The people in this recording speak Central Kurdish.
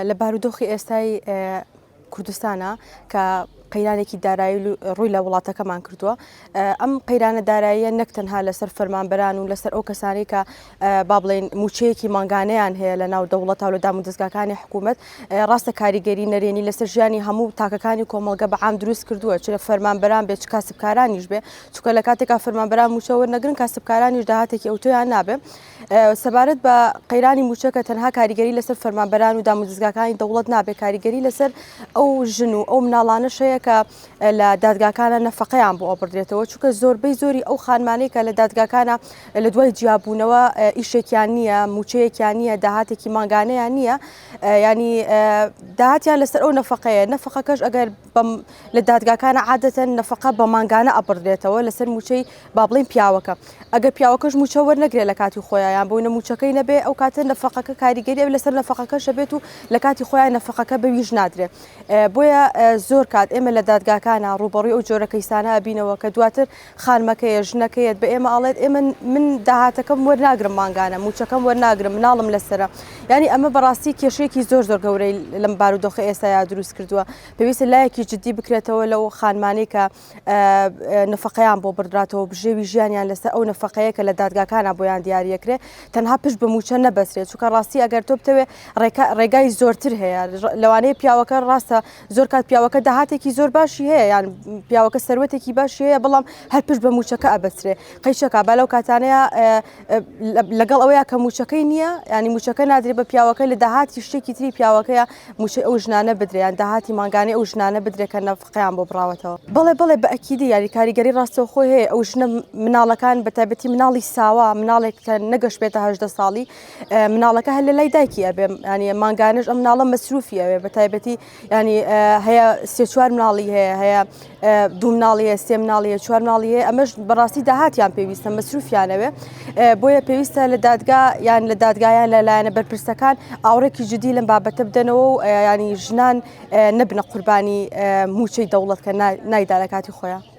لە بارودۆخی ئێستای کوردستانا کە قەیرانێکی دارایی ڕووی لە وڵاتەکەمان کردووە ئەم قەیرانە داراییە نەک تەنها لەسەر فەرمانبەران و لەسەر ئەو کەسانی کە با بڵێن موچەیەکی مانگانیان هەیە لە ناو دەوڵەت و لە دام و دەستگاکانی حکوومەت ڕاستە کاریگەری نەرێنی لەسەر ژیانی هەموو تاکەکانی کۆمەڵگە بە عام دروست کردووە چ لە فەرمانبەران بێت کاسبکارانیش بێ چکە لە کاتێکا فەرمانبەران موچەوە نەگرن کاسبکارانیش داهاتێکی ئەوتۆیان نابێ سەبارەت بە قەیرانی مووچە کە تەنها کاریگەری لەسەر فەرمانبەران و دامودزگاکانی دەوڵەت نابێت کاریگەری لەسەر ئەو ژن و ئەو مناڵانە شەیە کە لە دادگاکانە نەفقەیان بۆ ئەبدرێتەوە چونکە زۆربەی زۆری ئەو خانمانەی کە لە دادگاکانە لە دوای جیاببوونەوە ئیشێکیان نییە موچەیەکیان نییە داهاتێکی ماگانەیان نییە ینی داهاتیان لەسەر ئەو نەفقەیە نەفقەکەش ئەگەر لە دادگاکانە عادەتەن نەفقە بە مانگانە ئەبڕدرێتەوە لەسەر موچەی بابلین پیاوەکە ئەگەر پیاوەکەش موچە وەرنەگرێ لە کاتی خۆیان بۆی نە موچەکەی نەبێ ئەو کاتە نەفقەکە کاریگەری ئەو لەسەر نەفقەکەشە بێت و لە کاتی خۆیان نەفقەکە بەویش نادرێت بۆیە زۆر کات ئێمە لە دادگاکانە ڕوبەڕی ئەو جۆرە کەیسانە بینەوە کە دواتر خانمەکەیە، ژنەکەیەت، بە ئێمە ئەڵێت، ئێمە من داهاتەکەم وەرناگرم مانگانە، مووچەکەم وەرناگرم، مناڵم لەسەرە. یانی ئەمە بە ڕاستی کێشەیەکی زۆر زۆر گەورەی لەم بارودۆخە ئێستایا دروست کردووە. پێویستە لایەکی جدی بکرێتەوە لەو خانمانەی کە نەفەقەیان بۆ بڕدراتەوە، بژێوی ژیانیان لەسەر ئەو نەفەقەیە کە لە دادگاکانا بۆیان دیاری ئەکرێ، تەنها پشت بە مووچە نەبەسترێ. چونکە ڕاستی ئەگەر تۆ بتەوێ ڕێکا ڕێگای زۆرتر هەیە. لەوانەیە پیاوەکە ڕاستە. زۆر کات پیاوەکە داهاتێکی زۆر باشی هەیە یان پیاوەکە سەروەتێکی باشی هەیە بەڵام هەر پشت بە موچەکە ئەبەسرێ قەیچەکە بالەو کاتانەیە لەگەڵ ئەوەیە کە موچەکەی نییە ینی موچەکە نادرێت بە پیاوەکە لە داهاتی شتێکی تری پیاوەکەیە موچەی ئەو ژنانە بدریان داهاتی مانگانەی ئەو ژنانە بدرێکە نەفقیان بۆ بڕاوەتەوە بڵێ بڵێ بە ئەکیدی یاری کاریگەری ڕاستەوە خۆی هەیە ئەو ژنە مناڵەکان بە تایبەتی مناڵی ساوا مناڵێک کە نەگەشت بێتە هەشدە ساڵی مناڵەکە هەر لە لای دایکی ئەبێ ینی مانگانش ئەم مناڵە مەسروفی ئەوێ بە تایبەتی ینی هەیە سێ چوار مناڵی هەیە هەیە دوو مناڵی هەیە سێ مناڵی هەیە چوار مناڵی هەیە ئەمەش بەڕاستی داهاتیان پێویستە مەسروفیانەوێ بۆیە پێویستە لە دادگا یان لە دادگایان لە لایەنە بەرپرسەکان ئاوڕێکی جدی لەم بابەتە بدەنەوە و ینی ژنان نەبنە قوربانی موچەی دەوڵەت کە نایدا لە کاتی خۆیان.